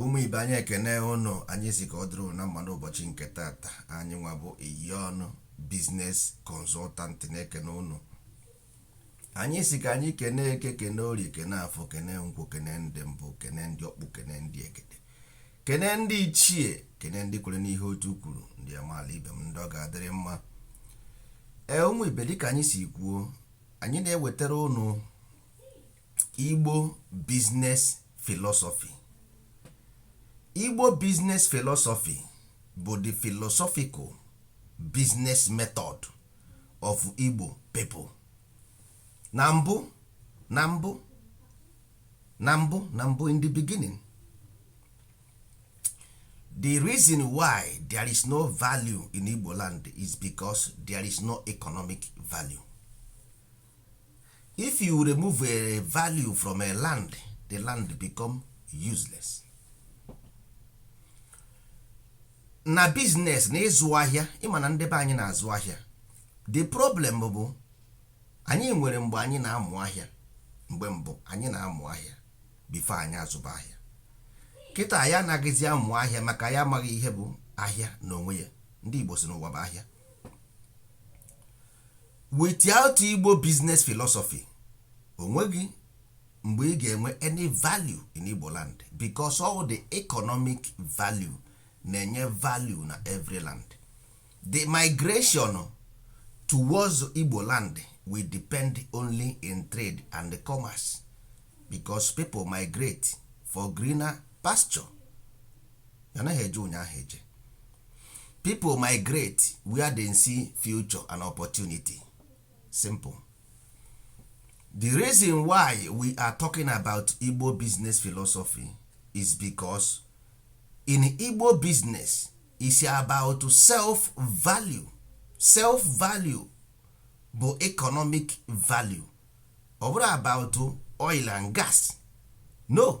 ụmụ ibe anyị ekene ụnụ anyị sị ka ọ dịrị ụnụ na mma n'ụbọchị nke tata anyị nwa bụ iyon business consultant na-ekene ụnụ anyị sị ka anyị kene eke kene orie kene afọ kene nkwụ kene ndị mbụ kene ndị ọkpụ kene ndị egede kene ndị ichie kene ndị kwere n'ihe otu kwuru ndị amaala ibe m ndị ọ ga-adịrị mma ee ụmụ ibe dịka anyị si kwuo anyị na-ewetara ụnụ igbo business philosophy igbo business philosophy bụ the philosophical business method of igbo people na mbụ na mbụ na mbụ na mbụ in the beginning the reason why there is no value in igbo land is because there is no economic value if you remove a value from a land the land become useless na business na ịzụ ahịa ị ma na ndị be anyị na-azụ ahịa the problem bụ anyị nwere mgbe anyị na-amụ ahịa mgbe mbụ anyị na-amụ ahịa before anyị azụba ahịa kịta ya anaghịzi amụ ahịa maka ya amaghị ihe bụ ahịa n'onwe ya ndị Igbo sị na ụwa bụ ahịa without igbo business philosophy onweghị mgbe ị ga-enwe any value in igbo land because all the economic value na-enye value na every land the migration towards igbo land we depend only in trade and commerce because people migrate for greener pasture anaghị eje ụnyaahụ eje people migrate where they see future and opportunity simple the reason why we are talking about igbo business philosophy is because in igbo business is about self value self value bụ economic value ọ bụrụ about oil and gas no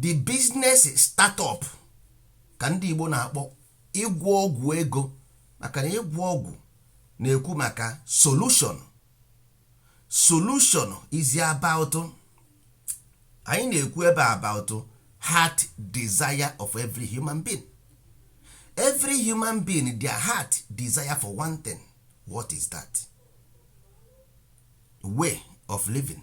the business startup ka ndị Igbo na-akpọ ịgwọ ọgwụ ego maka na ịgwọ ọgwụ na-ekwu maka solution solution is about anyị na-ekwu ebe a about heart desire of every human being every human being their heart desire for one thing what is that way of living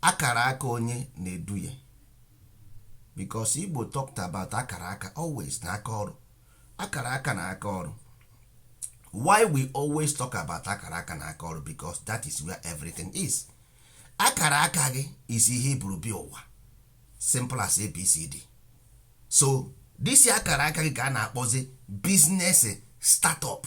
akara aka onye na-edu ya because Igbo talked about akara aka always na aka ọrụ akara aka na aka ọrụ why we always talk about akara aka na aka ọrụ because that is where everything is akara aka gị is ihe i buru bịa ụwa simple as abcd so this akara aka gị ka a na-akpọzi business startup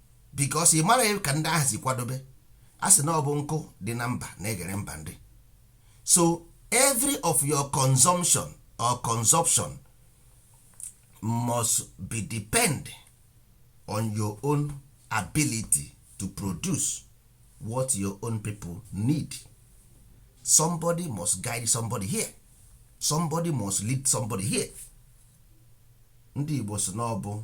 because ị mara ka ndị ahụ si kwadobe a sị na ọ bụ nkụ dị na mba na-eghere mba nri so every of your consumption or consumption must be depend on your own ability to produce what your own people need somebody must guide somebody here somebody must lead somebody here ndị Igbo sị na ọ bụ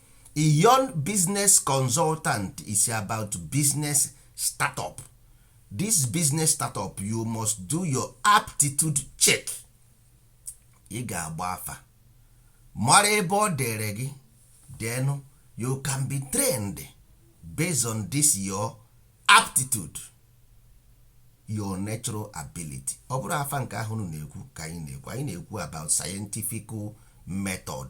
iyon business consultant is about business startup this business startup you must do your aptitude check ị ga-agba afa mara ebe ọ dere gị then you can be trained based on this your aptitude your natural ability ọ bụrọ afa nke ahụ unu na-ekwu ka anyị na-ekwu anyị na-ekwu about scientific method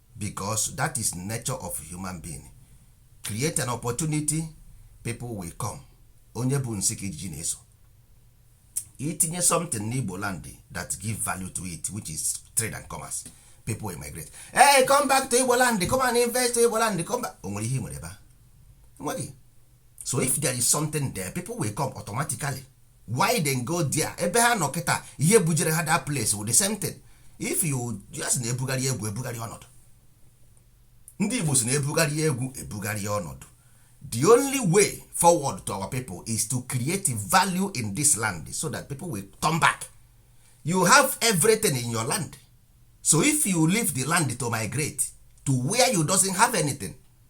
because that is nature of human being create an opportunity people will come onye bu nsị ka ijiji na-eso i tinye something n'igbo land that give value to it which is trade and commerce people will migrate hey come back to igbo land come and invest to igbo land come back o nwere ihe i nwere ebe a? enweghị so if there is something there people will come automatically why then go there ebe ha nọ kịta ihe bujere ha that place with the same thing if you just na-ebugharị egwu ebugharị ọnọdụ ndị Igbo sị na ebugharị egwu ebugharị ọnọdụ the only way forward to our people is to create value in this land so that people will come back you have everything in your land so if you leave the land to migrate to where you doesn't have anything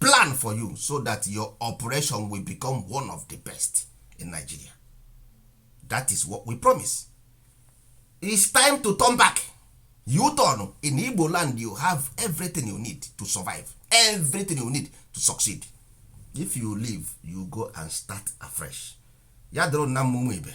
plan for you so that your operation will become one of the best in Nigeria that is what we promise it's time to turn back you turn in Igbo land you have everything you need to survive everything you need to succeed if you leave you go and start afresh ya doro na mmụmụ ibe